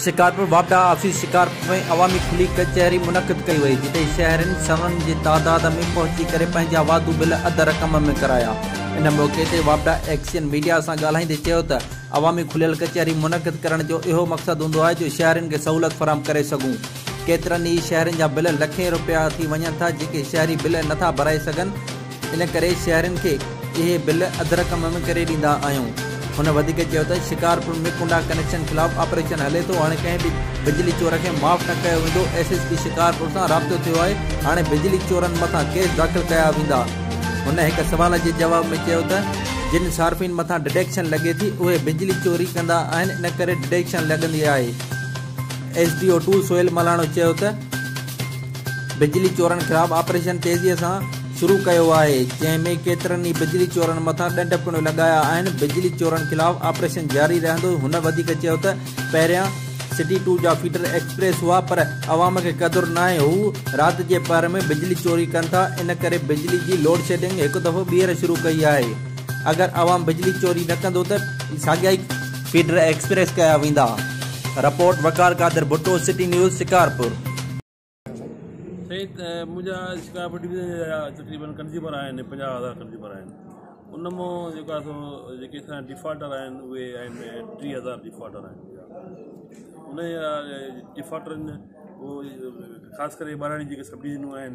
شڪارپور، واپڊا آفيس شڪارپور ۾ عوامي کلي ڪچهري منعقد ڪئي وئي، جتي شهرين سون جي تعداد ۾ پهچي ڪري پنهنجا واڌو بل اڌ رقم ۾ ڪرايا. ان موقعي تي واپڊا ايڪشن ميڊيا سان ڳالهائيندي چيو ته عوامي کليل ڪچهري منعقد ڪرڻ جو اهو مقصد هوندو آهي جو شهرين کي سهولت فراهم ڪري سگهون. ڪيترن ئي شهرين جا بل لکين روپيا ٿي وڃن ٿا جيڪي شهري بل نٿا ڀرائي سگهن، ان ڪري شهرين کي اهي بل اڌ رقم ۾ ڪري ڏيندا آهيون. هن وڌيڪ چيو ته شڪارپور ۾ ڪنڊا ڪنيڪشن خلاف آپريشن هلي ٿو، هاڻي ڪنهن به بجلي چور کي معاف نه ڪيو ويندو، ايس ايس پي شڪارپور سان رابطو ٿيو آهي، هاڻي بجلي چورن مٿان ڪيس داخل ڪيا ويندا. هن هڪ سوال جي جواب ۾ چيو ته جن صارفين مٿان ڊڊيڪشن لڳي ٿي اهي بجلي چوري ڪندا آهن ان ڪري ڊڊيڪشن لڳندي آهي. S D O two Sohail Malano چيو ته. بجلي چورن خلاف آپريشن تيزي سان شروع ڪيو آهي جنهن ۾ ڪيترن ئي بجلي چورن مٿان ڏنڊ پڻ لڳايا آهن بجلي چورن خلاف آپريشن جاري رهندو هن وڌيڪ چيو ته پهريان سٽي ٽو جا فيڊر ايڪسپريس هئا پر عوام کي قدر ناهي هو رات جي پهر ۾ بجلي چوري ڪن ٿا ان ڪري بجلي جي لوڊشيڊنگ هڪ دفعو ٻيهر شروع ڪئي آهي اگر عوام بجلي چوري نه ڪندو ته ساڳيا ئي فيڊر ايڪسپريس ڪيا ويندا، report Waqar Qadir Bhutto city news Shikarpur. سائين منهنجا شڪارپور ڊويزن جا تقريبن ڪنزيومر آهن پنجاهه هزار ڪنزيومر آهن ان مون جيڪو آهي سو جيڪي اسان ڊفالٽر آهن اهي آهن ٽي هزار ڊفالٽر آهن ان ڊفالٽرن ۾ خاص ڪري ٻاراڙي جيڪي سڀ ڊويزنون آهن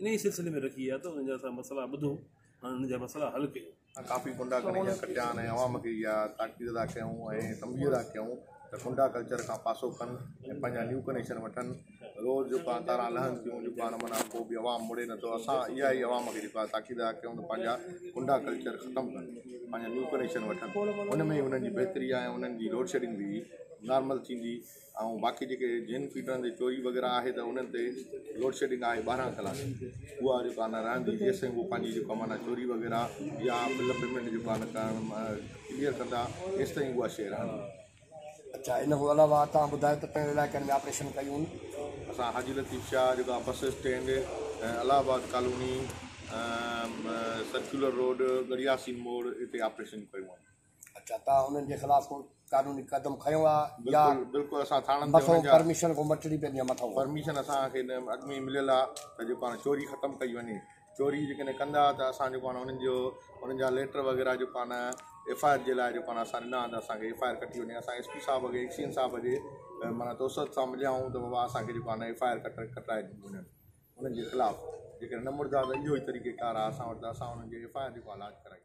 انهيء سلسلي ۾ رکي ويا ته انهن جا اسان مسئلا ٻڌو ۽ انهن جا مسئلا حل ڪيون. اسان ڪافي ڪنڊا کڻي اڃا ڪٽيا آهن ۽ عوام کي اها تاڪيد ادا ڪيائون ۽ تنبيهه ادا ڪيائون ته ڪنڊا ڪلچر کان پاسو ڪن ۽ پنهنجا نيو ڪنيڪشن وٺن. روز جيڪا تاران لهن ٿيون، جيڪا نه معنيٰ ڪو به عوام مڙي نٿو. اسان اها ئي عوام کي جيڪو آهي تاڪيد ادا ڪيائون ته پنهنجا ڪنڊا ڪلچر ختم ڪن، پنهنجا نيو ڪنيڪشن وٺن. ان ۾ ئي انهن جي بهتري آهي ۽ انهن جي لوڊشيڊنگ به نارمل ٿيندي. ۽ باقي جيڪي جن فيڊرن تي چوري وغيره آهي ته انهن تي لوڊشيڊنگ آهي ٻارهن ڪلاڪ اها جيڪو آهي رهندي جيسين هو پنهنجي جيڪو آهي معنيٰ چوري وغيره يا بل پيمنٽ جيڪو آهي ڪرڻ ڪليئر ڪندا ايستائين اها شيء رهندي اچا ان کان علاوه تان ٻڌايو ته پهرين علائقن ۾ آپريشن ڪيون اسان حاجي لطيف شاهه جيڪو آهي bus stand Allahabad colony circular road Garhiyasin موڙ اتي آپريشن ڪيون آهن اچا تان انهن جي خلاف ڪو قانوني قدم کنيو آ يا بلڪل اسان ٿاڻن تي مٿو پرميشن ڪو مٽڙي پيندي آ مٿو پرميشن اسان کي اڳ ۾ مليل آ ته جيڪو آ چوري ختم ڪئي وڃي چوري جي ڪني ڪندا ته اسان جيڪو آ انهن جو انهن جا ليٽر وغيره جيڪو آ نه ايف آئي آر جي لاء جيڪو آ نه اسان ڏنا ته اسان کي ايف آئي آر ڪٽي وڃي اسان ايس پي صاحب اڳي ايڪ سي اين صاحب جي معنيٰ توسط سان مليا آهيون ته بابا اسان کي جيڪو آ نه ايف آئي آر ڪٽ ڪٽرائي ڏني وڃن انهن جي خلاف جيڪڏهن نه مڙدا ته اهو ئي طريقي ڪار آ اسان وٽ ته اسان انهن جي ايف آئي آر جيڪو آ لاج ڪرائي